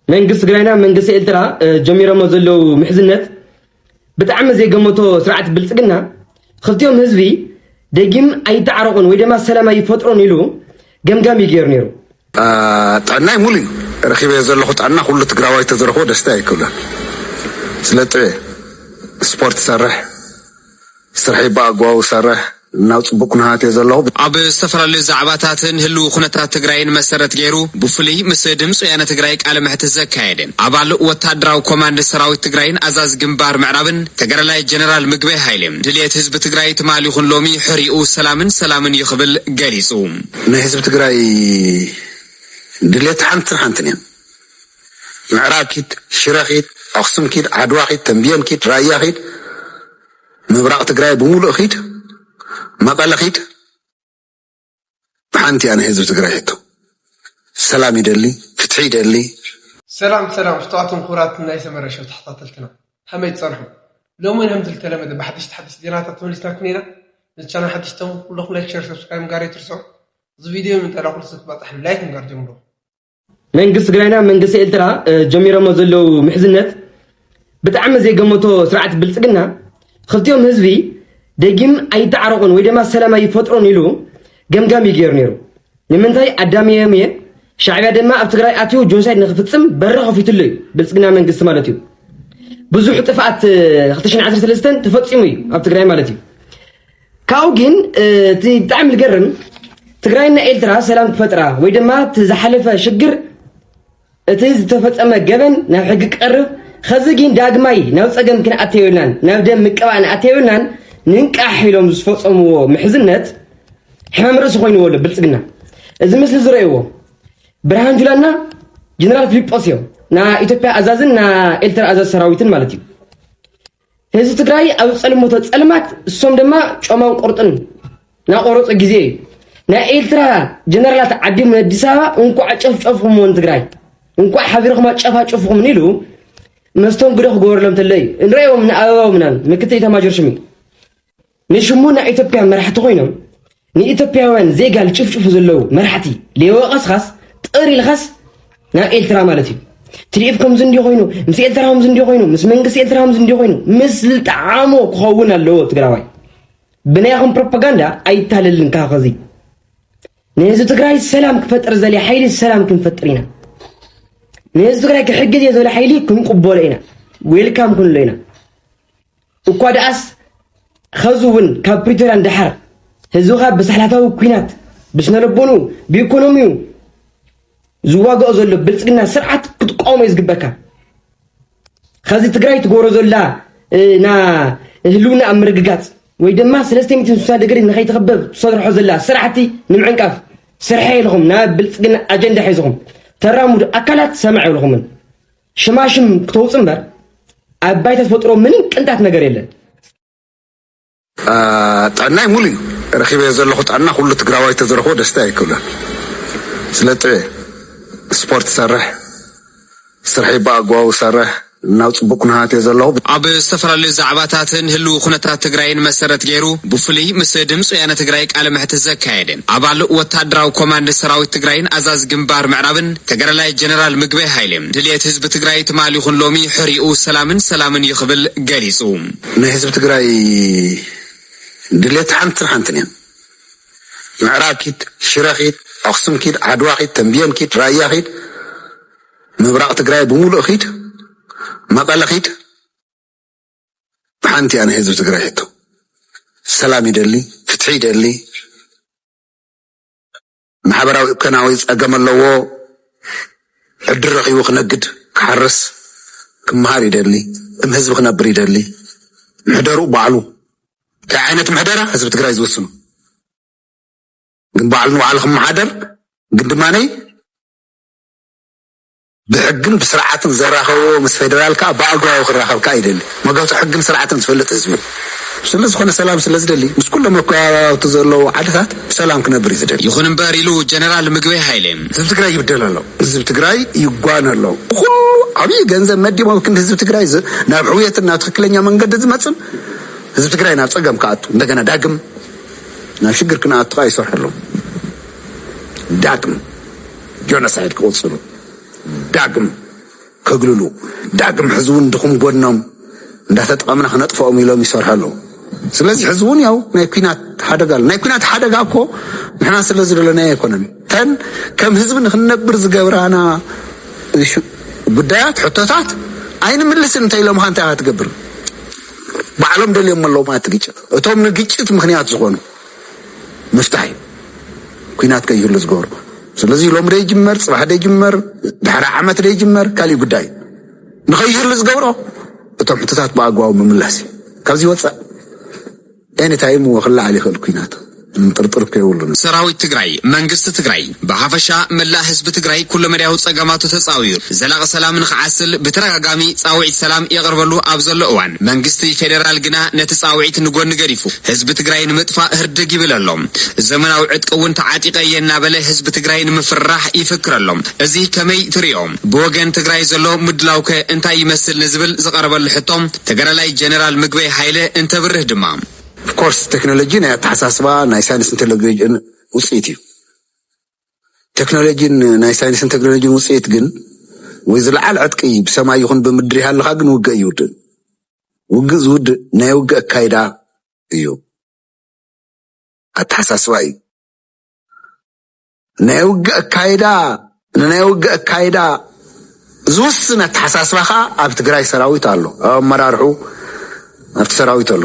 መንግስቲ ትግራይና መንግስቲ ኤርትራ ጀሚሮሞ ዘለው ምሕዝነት ብጣዕሚ ዘይገመቶ ስርዓት ብልፅግና ክልቲኦም ህዝቢ ደጊም ኣይተዓረቑን ወይ ድማ ሰላም ኣይፈጥሮን ኢሉ ገምጋም እዩ ገይሩ ነይሩ። ጥዕናይ ሙሉ እዩ ረኪበ ዘለኹ ጥዕና ኩሉ ትግራዋይ ተዝረክቦ ደስታ ኣይክብለን ስለ ጥዕ ስፖርት ሰርሕ ስርሐይ ብኣግባቡ እሰርሕ ናብ ፅቡቅ ኩነታት እየ ዘለኹ። ኣብ ዝተፈላለዩ ዛዕባታትን ህልዊ ኩነታት ትግራይን መሰረት ገይሩ ብፍሉይ ምስ ድምፂ ወያነ ትግራይ ቃለ መሕትት ዘካየደ ኣባል ወታደራዊ ኮማንድ ሰራዊት ትግራይን ኣዛዚ ግንባር ምዕራብን ተጋዳላይ ጀነራል ምግበይ ሃይለ ድልየት ህዝቢ ትግራይ ትማል ይኹን ሎሚ ሕሪኡ ሰላምን ሰላምን እዩ ክብል ገሊፁ። ናይ ህዝቢ ትግራይ ድልየት ሓንትን ሓንትን እያ። ምዕራብ ኪድ፣ ሽረ ኪድ፣ ኣክሱም ኪድ፣ ዓድዋ ኪድ፣ ተምቢየን ኪድ፣ ራያ ኪድ፣ ምብራቕ ትግራይ ብምሉእ ኺድ፣ መቐለ ኺድ፣ ብሓንቲ እያ ናይ ህዝቢ ትግራይ ሕቶ። ሰላም ይደሊ፣ ፍትሒ ይደሊ። ሰላም ሰላም ፍቱዋትን ክቡራትን ናይ ሰመረ ሸው ተኸታተልትና ከመይ ትጸንሑ ሎሚ ውን ከምዚ ዝተለመደ ብሓድሽ ሓድሽ ዜናታት ተመሊስናኩም ኢና ነዚ ቻናል ሓድሽ ተሙ ኩለኹም ላይክ ሸር ሰብስክራይብ ምጋር ኣይትርስዑ እዚ ቪድዮ ንምንታይ ላኩልስ ክበጽሕ ላይክ ምጋር ጀምሩ መንግስቲ ትግራይና መንግስቲ ኤርትራ ጀሚሮሞ ዘለው ምሕዝነት ብጣዕሚ ዘይገመቶ ስርዓት ብልፅግና ክልቲኦም ህዝቢ ደጊም ኣይተዓረቑን ወይ ድማ ሰላም ኣይፈጥሩን ኢሉ ገምጋም እዩ ገይሩ ነይሩ ንምንታይ ኣዳሚዮም እየ ሻዕቢያ ድማ ኣብ ትግራይ ኣትዩ ጆኖሳይድ ንክፍፅም በሪ ከፊትሉ እዩ ብልፅግና መንግስቲ ማለት እዩ ብዙሕ ጥፍኣት 2013 ተፈፂሙ እዩ ኣብ ትግራይ ማለት እዩ ካብኡ ግን እቲ ብጣዕሚ ዝገርም ትግራይና ኤርትራ ሰላም ክፈጥራ ወይ ድማ እቲ ዝሓለፈ ሽግር እቲ ዝተፈጸመ ገበን ናብ ሕጊ ክቐርብ ኸዚ ግን ዳግማይ ናብ ጸገም ክንኣተዮ የብልናን ናብ ደም ምቅባእ ንኣተዮ የብልናን ንንቃሕ ኢሎም ዝፈጸምዎ ምሕዝነት ሕማም ርእሲ ኮይንዎ ኣሎ ብልጽግና እዚ ምስሊ ዝረእይዎ ብርሃን ጁላና ጀነራል ፊሊጶስ እዮም ና ኢትዮጵያ ኣዛዝን ና ኤርትራ ኣዛዝ ሰራዊትን ማለት እዩ ህዝቢ ትግራይ ኣብ ዝጸልመቶ ጸልማት እሶም ድማ ጮማን ቁርጥን ናቆረጹ ግዜ እዩ ናይ ኤርትራ ጀነራላት ዓዲም ኣዲስ ኣበባ እንኳዕ ጨፍጨፍኹምዎ ንትግራይ እንኳዕ ሓቢርኹም ኣጨፋጭፍኹም ኢሉ መስተንግዶ ክገበረሎም ተሎ እዩ ንሪኦም ንኣበባው ምናምን ምክትል ኢታማጆር ሹም እዩ ንሽሙ ናይ ኢትዮጵያ መራሕቲ ኮይኖም ንኢትዮጵያውያን ዜጋ ልጭፍጭፉ ዘለዉ መራሕቲ ሌወቐስኻስ ጥር ኢልኻስ ናብ ኤልትራ ማለት እዩ ትዲኤፍ ከምዚ እንዲ ኮይኑ ምስ ኤልትራ ከምዚ እንዲ ኮይኑ ምስ መንግስቲ ኤልትራ ከምዚ እንዲ ኮይኑ ምስ ልጣዓሞ ክኸውን ኣለዎ ትግራዋይ ብናይኹም ፕሮፓጋንዳ ኣይታለልን ካብ ከዚ ንህዝቢ ትግራይ ሰላም ክፈጥር ዘለ ሓይሊ ሰላም ክንፈጥር ኢና ንህዝቢ ትግራይ ክሕግዝ እየ ዝበለ ሓይሊ ክንቅበሎ ኢና ዌልካም ክንሎ ኢና እኳ ደኣስ ኸዚ እውን ካብ ፕሪቶርያ ንደሓር ህዝብኻ ብሳሕላታዊ ኲናት ብስነልቦንኡ ብኢኮኖሚኡ ዝዋግኦ ዘሎ ብልፅግና ስርዓት ክትቋወሞ እዩ ዝግበካ ኸዚ ትግራይ ትገብሮ ዘላ ና ህልውና ኣብ ምርግጋፅ ወይ ድማ ሰለስተ ሚትን ስሳ ድግሪ ንኸይትኽበብ ትሰርሖ ዘላ ስራሕቲ ንምዕንቃፍ ስርሐ ኢልኹም ናብ ብልፅግና ኣጀንዳ ሒዝኹም ተራምዱ ኣካላት ሰማዕ ኢልኹምን ሽማሽም ክተውፅ እምበር ኣብ ባይታ ተፈጥሮ ምንም ቅንጣት ነገር የለን። ጥዕናይ ሙሉ እዩ ረኪበ ዘለኹ ጥዕና ኩሉ ትግራዋይ ተዝረክቦ ደስታ ኣይክብለን ስለ ጥዕ ስፖርት ሰርሕ ስርሒ ብኣግባቡ ሰርሕ ናብ ፅቡቅ ኩነታት እየ ዘለኹ ኣብ ዝተፈላለዩ ዛዕባታትን ህልው ኩነታት ትግራይን መሰረት ገይሩ ብፍሉይ ምስ ድምፂ ወያነ ትግራይ ቃለ መሕትት ዘካየደ ኣባል ወታደራዊ ኮማንድ ሰራዊት ትግራይን ኣዛዚ ግንባር ምዕራብን ተጋዳላይ ጀነራል ምግበይ ሃይሌ፣ ድልየት ህዝቢ ትግራይ ትማል ይኹን ሎሚ ሕሪኡ ሰላምን ሰላምን እዩ ክብል ገሊፁ። ናይ ህዝቢ ትግራይ ድልየት ሓንትን ሓንትን እያ። ምዕራብ ኪድ፣ ሽረ ኪድ፣ ኣኽሱም ኪድ፣ ዓድዋ ኪድ፣ ተምብየን ኪድ፣ ራያ ኪድ፣ ምብራቕ ትግራይ ብሙሉእ ኪድ፣ መቐለ ኪድ ሓንቲ እያ ናይ ህዝቢ ትግራይ ሕቶ። ሰላም ይደሊ፣ ፍትሒ ይደሊ፣ ማሕበራዊ እከናዊ ጸገም ኣለዎ ዕድል ረኺቡ ክነግድ ክሓርስ ክመሃር ይደሊ እም ህዝቢ ክነብር ይደሊ ምሕደሩ ባዕሉ እንታይ ዓይነት ምሕደራ ህዝቢ ትግራይ ዝውስኑ ግን ባዕሉ ንባዕሉ ክመሓደር ግን ድማነይ ብሕግን ብስርዓትን ዘራኸቦ ምስ ፌደራል ከኣ ብኣግባቡ ክራኸብ ከኣ ይደሊ። መገቱ ሕግን ስርዓትን ዝፈልጥ ህዝቢ እዩ። ስለዝኾነ ሰላም ስለዝደሊ ምስ ኩሎም መከባብያውቲ ዘለዎ ዓድታት ብሰላም ክነብር እዩ ዝደሊ። ይኹን እምበር ኢሉ ጀነራል ምግበይ ሃይሌ። ህዝቢ ትግራይ ይብደል ኣሎ፣ ህዝቢ ትግራይ ይጓነ ኣሎ፣ ብኹሉ ዓብይ ገንዘብ መዲቦም ኣብ ክንዲ ህዝቢ ትግራይ ናብ ሕውየትን ናብ ትኽክለኛ መንገዲ ዝመፅን ህዝቢ ትግራይ ናብ ፀገም ክኣቱ እንደገና ዳግም ናብ ሽግር ክነኣቱ ከኣ ይሰርሑ ኣለዉ። ዳግም ጆኖሳይድ ክቕፅሉ ዳግም ከግልሉ ዳግም ሕዚ እውን ድኹም ጎድኖም እንዳተጠቐምና ክነጥፈኦም ኢሎም ይሰርሑ ኣለዉ። ስለዚ ሕዚ እውን ያው ናይ ኩናት ሓደጋ ኣሎ። ናይ ኩናት ሓደጋ እኮ ንሕና ስለ ዝደለናዮ ኣይኮነን። ተን ከም ህዝቢ ንክንነብር ዝገብራና ጉዳያት ሕቶታት ኣይንምልስን እንተኢሎም ካ እንታይ ክትገብር ባዕሎም ደልዮም ኣለዉ ማለት ግጭት እቶም ንግጭት ምክንያት ዝኾኑ ምፍታሕ እዩ ኩናት ከይህሉ ዝገብሩ። ስለዚ ሎሚ ደይጅመር ፅባሕ ደይጅመር ድሕሪ ዓመት ደይጅመር ካሊእ ጉዳይ እዩ። ንኸይህሉ ዝገብሮ እቶም ሕቶታት ብኣግባቡ ምምላስ እዩ። ካብዚ ወፃእ ኤኒታይም እዎ ክለዓል ይኽእል ኩናት ምጥርጥር እኮ የብሉን። ሰራዊት ትግራይ መንግስቲ ትግራይ ብሓፈሻ መላእ ህዝቢ ትግራይ ኩለመዳያዊ ፀገማቱ ተፃውዩ ዘላቒ ሰላም ንኽዓስል ብተደጋጋሚ ፃውዒት ሰላም የቕርበሉ ኣብ ዘሎ እዋን መንግስቲ ፌዴራል ግና ነቲ ፃውዒት ንጎኒ ገዲፉ ህዝቢ ትግራይ ንምጥፋእ ህርድግ ይብል ኣሎ። ዘመናዊ ዕጥቂ እውን ተዓጢቐ እየ እናበለ ህዝቢ ትግራይ ንምፍርራሕ ይፍክር ኣሎ። እዚ ከመይ ትሪኦ? ብወገን ትግራይ ዘሎ ምድላው ከ እንታይ ይመስል ንዝብል ዝቐረበሉ ሕቶ ተጋዳላይ ጀነራል ምግበይ ሃይለ እንተብርህ ድማ። Of course ቴክኖሎጂ ናይ ኣተሓሳስባ ናይ ሳይንስን ቴክኖሎጂን ውፅኢት እዩ። ተክኖሎጂን ናይ ሳይንስን ተክኖሎጂን ውፅኢት ግን ወይ ዝለዓል ዕጥቂ ብሰማይ ይኹን ብምድሪ ሃልኻ ግን ውግእ ይውድእ። ውግእ ዝውድእ ናይ ውግእ ኣካይዳ እዩ፣ ኣተሓሳስባ እዩ። ናይ ውግእ ኣካይዳ ንናይ ውግእ ኣካይዳ ዝውስን ኣተሓሳስባ ከዓ ኣብ ትግራይ ሰራዊት ኣሎ፣ ኣብ ኣመራርሑ ኣብቲ ሰራዊት ኣሎ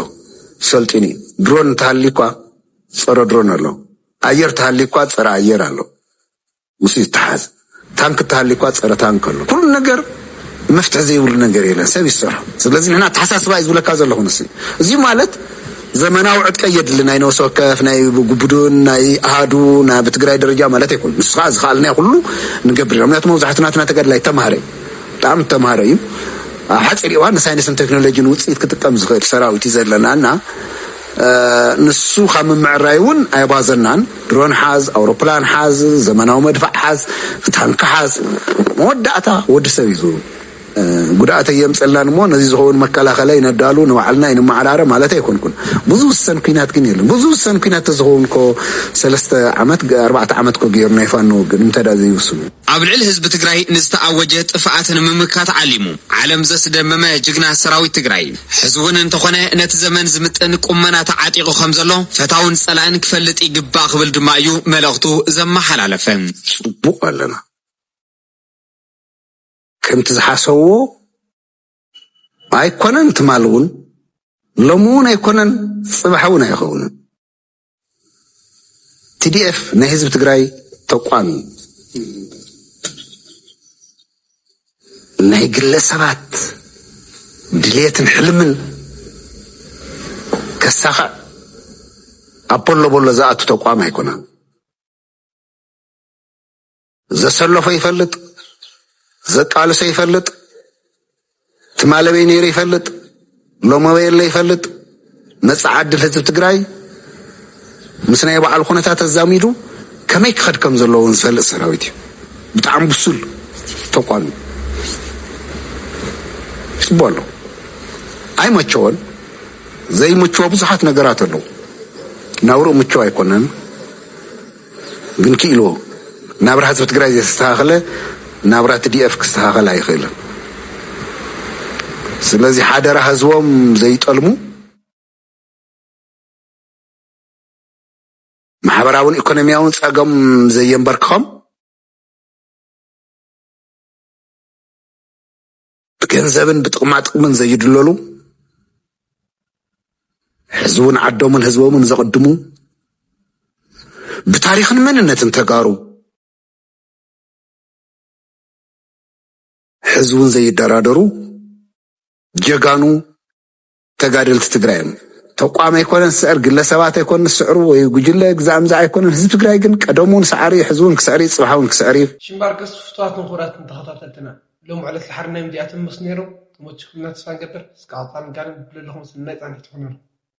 ሰልጢኑ እዩ። ድሮን እንተሃልዩ እኳ ፀረ ድሮን ኣሎ፣ ኣየር ተሃልዩ እኳ ፀረ ኣየር ኣሎ፣ ምስ ይተሓዝ ታንክ እተሃልዩ እኳ ፀረ ታንክ ኣሎ፣ ኩሉ ነገር መፍትሒ ዘይብሉ ነገር የለን ሰብ እዩ ዝሰርሖ ስለዚ ንሕና ኣተሓሳስባ እዩ ዝብለካ ዘለኹ ንስ እዚ ማለት ዘመናዊ ዕጥቀ የድሊ ናይ ነብሲ ወከፍ ናይ ጉቡድን ናይ ኣሃዱ ናይ ብትግራይ ደረጃ ማለት ኣይኮኑ ንሱ ከዓ ዝኸኣልና ኩሉ ንገብር ኢና ምክንያቱ መብዛሕቱ ናትና ተጋድላይ ተማሃረ እዩ ብጣዕሚ ተማሃረ እዩ ኣብ ሓፂር እዋን ንሳይንስን ቴክኖሎጂን ውፅኢት ክጥቀም ዝኽእል ሰራዊት እዩ ዘለና እና ንሱ ካብ ምምዕራይ እውን ኣይባዘናን። ድሮን ሓዝ፣ ኣውሮፕላን ሓዝ፣ ዘመናዊ መድፍዕ ሓዝ፣ ታንኪ ሓዝ፣ መወዳእታ ወዲ ሰብ እዩ ጉድኣተይ የምፀላን እሞ ነዚ ዝኸውን መከላኸላይ ነዳሉ ንባዕልና ይንመዓራረ ማለት ኣይኮንኩን ብዙ ዝሰን ኩናት ግን የለን ብዙ ዝሰን ኩናት ተዝኸውን ኮ ሰለስተ ዓመት ኣርባዕተ ዓመት ኮ ገይሩ ናይ ፋኖ ግን እንተዳ ዘይውስኑ ኣብ ልዕሊ ህዝቢ ትግራይ ንዝተኣወጀ ጥፍኣት ንምምካት ዓሊሙ ዓለም ዘስደመመ ጅግና ሰራዊት ትግራይ ሕዚ እውን እንተኾነ ነቲ ዘመን ዝምጥን ቁመና ተዓጢቑ ከም ዘሎ ፈታውን ፀላእን ክፈልጥ ይግባእ ክብል ድማ እዩ መልእኽቱ ዘመሓላለፈ። ፅቡቕ ኣለና ከምቲ ዝሓሰብዎ ኣይኮነን ትማል እውን ሎሚ እውን ኣይኮነን ፅባሕ እውን ኣይኸውንን። TDF ናይ ህዝቢ ትግራይ ተቋም እዩ። ናይ ግለሰባት ድሌትን ሕልምን ከሳኽዕ ኣብ ቦሎ ቦሎ ዝኣቱ ተቋም ኣይኮነን። ዘሰለፎ ይፈልጥ፣ ዘቃልሶ ይፈልጥ፣ ትማለበይ ነይሩ ይፈልጥ፣ ሎመበይ የለ ይፈልጥ። መጻኢ ዕድል ህዝቢ ትግራይ ምስ ናይ ባዕሉ ኩነታት ኣዛሚዱ ከመይ ክኸድ ከም ዘለዎ እውን ዝፈልጥ ሰራዊት እዩ። ብጣዕሚ ብሱል ተቋም እዩ። ይፅቡ ኣሎ ኣይመቸወን ዘይምችዎ ብዙሓት ነገራት ኣለዉ። ናብርኡ ምችው ኣይኮነን። ግን ኪኢልዎ ናብራ ህዝቢ ትግራይ ዘይተስተኻኸለ ናብራ ትዲኤፍ ክስተኻኸል ኣይኽእልን ስለዚ ሓደራ ህዝቦም ዘይጠልሙ። ማሕበራውን ኢኮኖሚያውን ጸገም ዘየንበርክኸም ብገንዘብን ብጥቕማጥቕምን ዘይድለሉ ሕዝውን ዓዶምን ህዝቦምን ዘቕድሙ ብታሪኽን መንነትን ተጋሩ ሕዝውን ዘይደራደሩ ጀጋኑ ተጋደልቲ ትግራይ እዮም። ተቋም ኣይኮነን ዝስዕር፣ ግለሰባት ኣይኮን ዝስዕሩ፣ ወይ ጉጅለ ግዛእምዛ ኣይኮነን። ህዝቢ ትግራይ ግን ቀደም እውን ሰዓሪ እዩ፣ ሕዚ እውን ክስዕር እዩ፣ ፅባሕ እውን ክስዕር እዩ። ሽምባርከስ ፍትዋትን ክቡራትን ተኸታተልትና ሎሚ ዕለት ዝሓር ናይ ምዚኣ ትምስ ነይሩ ተመችኩምና ተስፋ ንገብር እስከ ቀፃሊ ጋነን ብለለኹም ሰናይ ፃንሒት ይኹነልኩም።